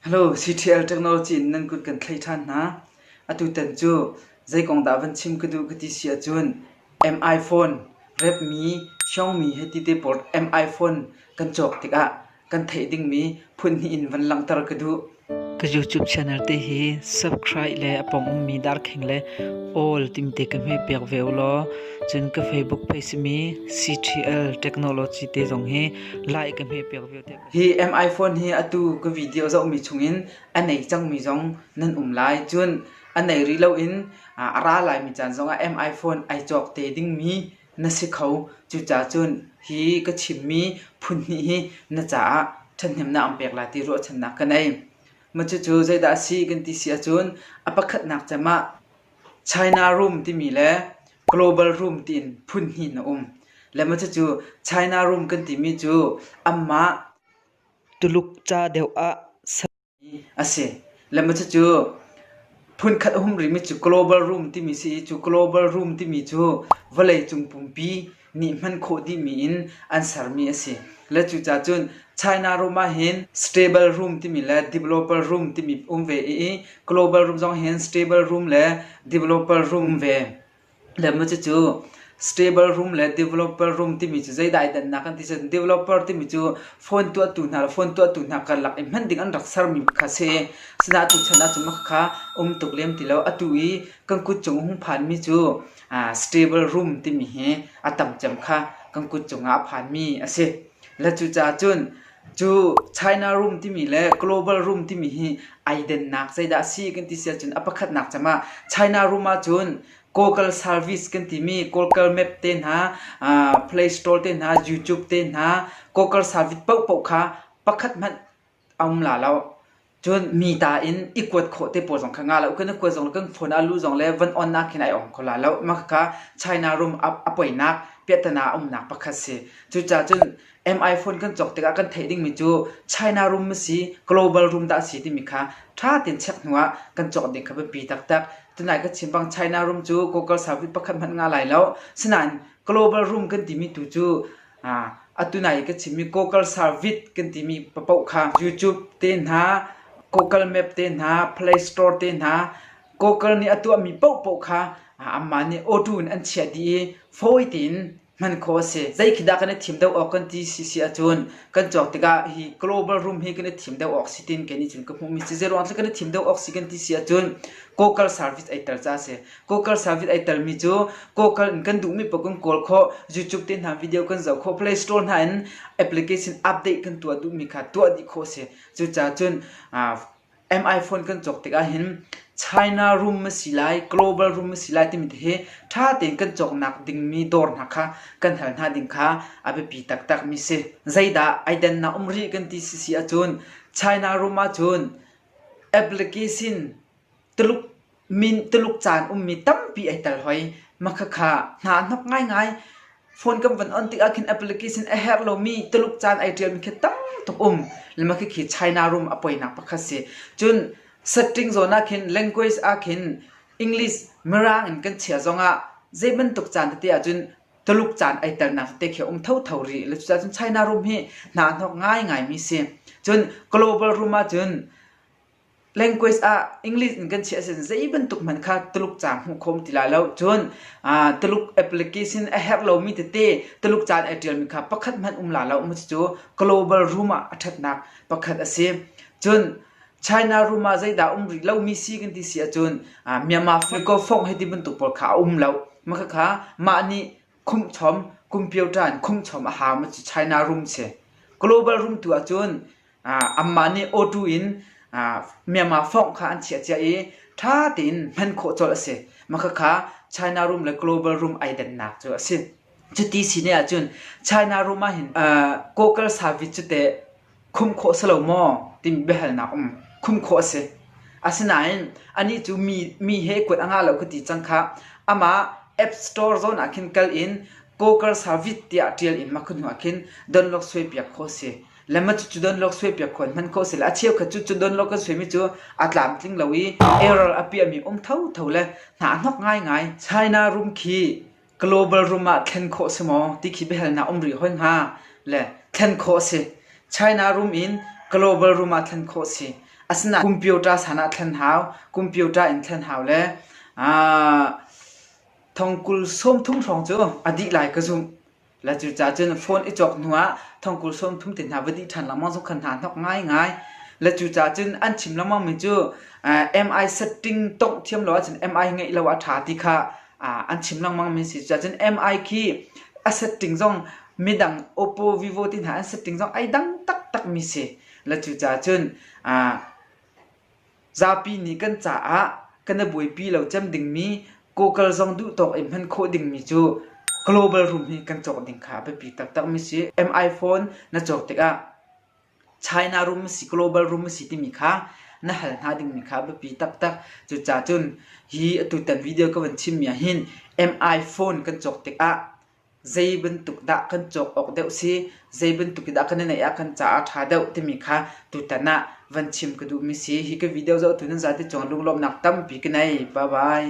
CTL technology in nan kut kan thlei ṭhan hna. Atutan cu zei kong dah van chim ka duh ka ti si ahcun mi phone, repmi, Xiaomi he ti te pawl mi phone kan cawk tikah kan theih dingmi phunhnih in van langhter ka duh. Ka YouTube channel te hi subscribe le a pawng ummi darkheng le all timte ka hme piak ve ulaw cun ka Facebook page simi CTL technology te zong hi like ka hme piak ve te. Hi M-iPhone hi atu ka video zohmi chungin a nei cangmi zong nan um lai. Cun a nei rih loin a ra laimi caan zongah M-iPhone ai cawk te dingmi na si kho. Cucaah cun hi ka chimmi phunhnih hi na caah ṭhathnemnak an pek lai ti ruahchannak ka nei. Mah cucu zeidah a si kan ti si ahcun a pakhatnak cem ah China Room timi le Global Room tiin phun hnih na um. Le maw cucu China Room kan timi cu anmah Tuluk ca deuh ah sermi a si. Le maw cucu phunkhat a um rihmi cu Global Room timi si i cu Global Room timi cu vawleicung pumpi nih hman khawh dihmi in an sermi a si. Le cucaah cun China room ah hin stable room timi le developer room timi um ve i global room zong hin stable room le developer room um ve. Le maw cucu stable room le developer room timi cu zeidai dannak an ti cun developer timi cu phone tuahtu hna le phone tuahtu hna karlak i hman ding an rak sermi kha si. Asinain tu chan ah cun khakha um tuk lem ti lo. Atu i kan kut cung hung phanmi cu Stable room timi hi a tam cem kha kan kut cungah a phanmi a si. Le cucaah cun cu China room timi le global room timi hi ai dennak zeidah a si kan ti si ahcun a pakhatnak cem ah China room ahcun Google service kan timi Google Map te hna, Play Store te hna, YouTube te hna Google service paohpaoh kha pakhat hmanh a um la lo. Cun mi ta in i kuat khawh te pawl zong kha nga loh. Kan i kuat zong le kan phone ah lu zong le van onnak khin ai ong kho la loh. Mah kha China rum a, a poinak piahtana a umnak pakhat si. Cucaah cun MI phone kan cawk tikah kan theih dingmi cu China rum a si, global rum dah a si timi kha ṭha tein check hnuah kan cawk ding kha biapi taktak. Tunai ka chim bang China rum cu kokal savuit pakhat hmanh nga lai loh. Sinain global rum kan timi tu cu Atu nai i ka chimmi Google Service kan timi paoh kha YouTube te hna, Google Map te hna, Play Store te hna, Google nih a tuahmi paohpaoh kha anmah nih auto in an chiah dih i fawi tein hman khawh a si. Zeikhi dah kan i thim deuh awk kan ti si si ahcun kan cawk tikah hi global room hi kan i thim deuh awk si tiin kei nih cun ka hmuhmi si. Zeiruang tluk kan i thim deuh awk si kan ti si ahcun Google Service ai tel caah a si. Kawkal service ai telmi cu kawkal in kan duhmi paoh kan kawl khawh YouTube te hna video kan zoh khawh Play Store hna in application update kan tuah duhmi kha tuah dih khawh si cucaah cun MIphone kan cawk tikah hin China room a si lai global room a si lai timi hi ṭha tein kan cawknak dingmi dawr hna kha kan hal hna ding kha a biapi taktakmi si zeidah ai dannak um rih kan ti si si ahcun China room ahcun application Tuluk caan ummi tampi ai tel hoi. Makhakha hnahnok ngaingai. Phone kan von on tikah khin application a herh lomi Tuluk caan ai ṭialmi khi tam tuk um. Le makhakhi China rum a poinak pakhat si. Cun setting zawn ah khin language ah khin English mirang in kan chiah zongah zei bantuk caan tete ahcun Tuluk caan ai telnak tete khi a um thotho rih. Le cucaah cun China rum hi hnahnok ngaingaimi si. Cun global rum ahcun Language ah English in kan chiah sin zei bantuk hmanh kha Tuluk ca hmuh khawm ti la lo. Cun ah, Tuluk application a herh lomi tete Tuluk caan ai ṭialmi kha pakhat hmanh um la lo. Cucu global room ah a ṭhatnak pakhat a si. Cun China room ah zeidah um rih lomi si kan ti si ahcun ah, Myanmar Fuiko Fong hiti bantuk pawl kha a um lo. Makhakha mah nih khumhchom, computer in khumhchom a hau mi cu China room si. Global room tu ahcun Anmah nih awṭu in Myanmar fawng kha an chiahcia i ṭha tein hman khawh colh a si. Makhakha China rum le global rum ai dannak cu a si. Cuti sine ahcun China rum ahhin Kawkal savit cu teh khum khawh si lo maw timi biahalnak um. Khum khawh a si. Asinain anih cu mi he kuat a ngah lo ka ti cang khah. Amah App Store zawn ah khin kal in Kawkal savit tiah ṭial i makhun hnuah khin donlok suaipiak kho a si. le ma cucu donlawk suaipiak kho hman kho sila a cheukhat cucu donlawk kan suaimi cu a tlamtling lo i error a piahmi um thotho le hna a hnok ngaingai China rum khi global rum ah thlen khawh si maw ti khi biahal na um rih hoi hnga le thlen khawh si China rum in global rum ah thlen khawh si asina computer sana thlen hau computer in thlen hau le thongkul som thung hrong cu a dih lai ka zumh La cu ca cun phone i cawk hnu ah thongkul sawm thum te hna va dih ṭhan lengmang zong khan hna hnok ngaingai. La cu ca cun an chim lengmang mi cu MI setting tongh thiam lo ahcun MI ngeih lo ah ṭha ti kha an chim lengmang mi si. Cucacun MI khi a setting zong midang Oppo, Vivo ti hna an setting zong ai dang taktak mi si. La cu ca cun Zapi nih kan caah kan i buaipi lo cem dingmi kawkal zong duhtawk in hman khawh dingmi cu global rum hi kan cawk ding kha a biapi taktakmi si. M-iPhone na cawk tikah China rum a si, global rum a si timi kha na hal hna dingmi kha a biapi taktak. Cucacun hi atutan video ka van chimmi ahhin M-iPhone kan cawk tikah zei bantuk dah kan cawk awk deuh si, zei bantuk in dah kan i naih ah kan caah a ṭha deuh timi kha tutan ah van chim ka duhmi si. Hi ka video zoh tu nan zate cung ah lunglawmhnak tampi ka nei. Bye bye.